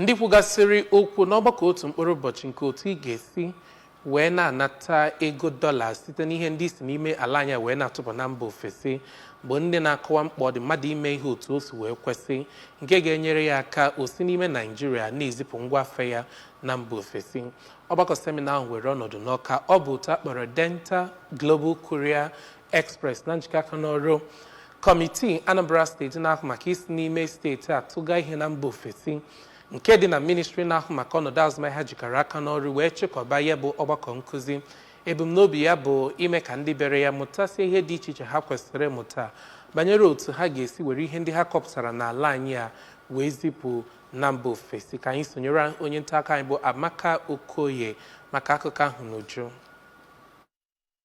Ndị kwugasịrị okwu n'ọgbakọ otu mkpụrụ ụbọchị nke otu ị ga-esi wee na-anata ego dọla site n'ihe ndị isi n'ime ala anyị wee na-atụpụ na mba ofesi bụ ndị na-akọwa mkpa ọ dị mmadụ ime ihe otu o si wee kwesị nke ga-enyere ya aka o si n'ime Naijiria na-ezipụ ngwa afịa ya na mba ofesi ọgbakọ semina ahụ were ọnọdụ n'Ọka ọ bụ otu a kpọrọ Denta Global Courier Express na njikọ aka n'ọrụ kọmitii Anambra steeti na-ahụ maka isi n'ime steeti atụga ihe na mba ofesi nke dị na ministri na-ahụ maka ọnọdụ azụmahịa jikọrọ aka n'ọrụ wee chịkọba ya bụ ọgbakọ nkụzi ebumnobi ya bụ ime ka ndị bịara ya mụtasie ihe dị iche iche ha kwesịrị ịmụta banyere otu ha ga-esi were ihe ndị ha kọpụtara n'ala anyị a wee zipụ na mba ofesi ka anyị sonyere onye nta akụkọ anyị bụ Amaka Okoye maka akụkọ ahụ n'uju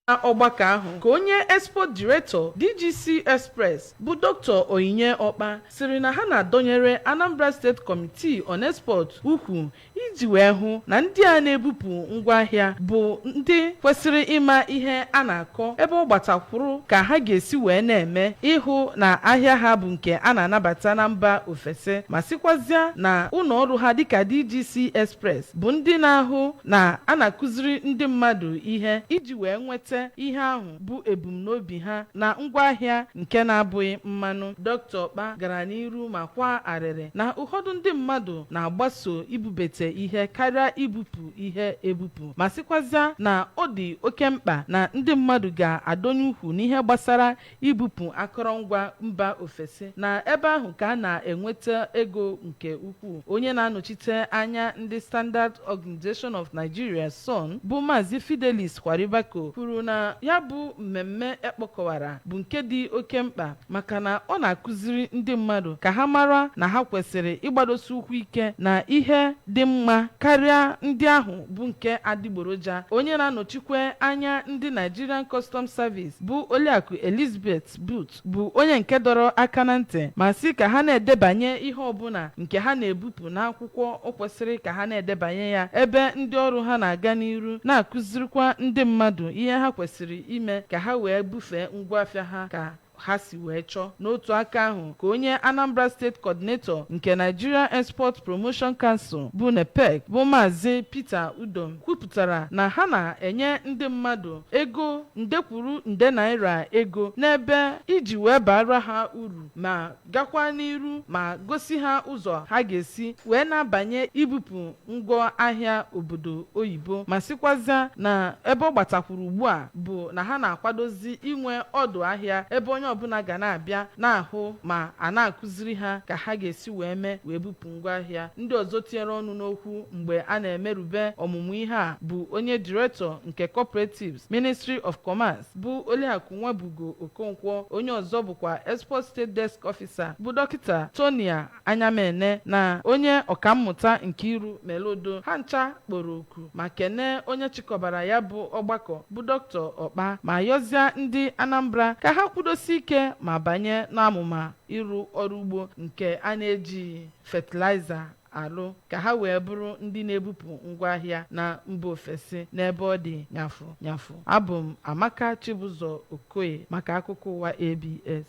Na ọgbakọ ahụ ka onye Export Director DGC Express bụ Doctor Onyinye Ọkpa sịrị na ha na-adọnyere Anambra State Committee on Export ukwu iji wee hụ na ndị a na-ebupụ ngwaahịa bụ ndị kwesịrị ịma ihe a na-akọ ebe ọ gbatakwụrụ ka ha ga-esi wee na-eme ịhụ na ahịa ha bụ nke a na-anabata na mba ofesi ma sịkwazịa na ụlọ ọrụ ha dịka DGC Express bụ ndị na-ahụ na a na-akụziri ndị mmadụ ihe iji wee nweta ihe ahụ bụ ebumnobi ha na ngwa ahịa nke na-abụghị mmanụ. Doctor Ọkpa gara n'iru ma kwaa arịrị na ụfọdụ ndị mmadụ na-agbaso ibubete ihe karịa ibupụ ihe ebupụ ma sịkwazịa na ọ dị oke mkpa na ndị mmadụ ga-adọnye ukwu n'ihe gbasara ibupụ akọrọngwa mba ofesi na ebe ahụ ka a na-enweta ego nke ukwuu. Onye na-anọchite anya ndị Standard Organization of Nigeria, SON, bụ Maazị Fidelis Kwaribako kwuru na ya bụ mmemme e kpokọwara bụ nke dị oke mkpa maka na ọ na-akụziri ndị mmadụ ka ha mara na ha kwesịrị ịgbadosi ụkwụ ike na ihe dị mma karịa ndị ahụ bụ nke adịgboroja. Onye na-anọchikwe anya ndị Nigerian Customs Service bụ Oliakụ Elizabeth Booth bụ onye nke dọrọ aka na ntị ma sị ka ha na-edebanye ihe ọbụla nke ha na-ebupụ n'akwụkwọ o kwesịrị ka ha na-edebanye ya ebe ndị ọrụ ha na-aga n'iru na-akụzirikwa ndị mmadụ ihe ha kwesịrị ime ka ha wee bufee ngwaafịa ha ka ha si wee chọọ n'otu aka ahụ ka onye Anambra State Coordinator nke Nigeria Export Promotion Council bụ NEPEC bụ Maazị Peter Udom kwupụtara kwupụtara na ha na-enye ndị mmadụ ego nde kwuru nde naira ego n'ebe iji wee baara ha uru ma gakwa n'iru ma gosi ha ụzọ ha ga-esi wee na-abanye ibupụ ngwa ahịa obodo oyibo ma sịkwazịa na ebe ọ gbatakwuru ugbu a bụ na ha na-akwadozi inwe ọdụ ahịa ebe onye ọbụla ga na-abịa na-ahụ ma a na-akụziri ha ka ha ga-esi wee mee wee bupụ ngwaahịa. Ndị ọzọ tinyere ọnụ n'okwu mgbe a na-emerube ọmụmụ ihe a bụ onye Director nke Cooperatives, Ministry of Commerce, bụ Oliakụ Nwabugo Okonkwo, onye ọzọ bụkwa Export State Desk Officer, bụ Dọkịta Tonia Anyamene na onye ọkammụta Nkiru Meludu. Ha ncha kpọrọ oku ma kenee onye chịkọbara ya bụ ọgbakọ bụ Dr. Okpa ma yọzịa ndị Anambra ka ha kwudosie ike ma banye n'amụma ịrụ ọrụ ugbo nke a na-ejighị fatịlaịza alụ ka ha wee bụrụ ndị na-ebupụ ngwaahịa na mba ofesi n'ebe ọ dị nyafụ nyafụ abụ m amaka chibụzọ okoye maka akụkọ ụwa abs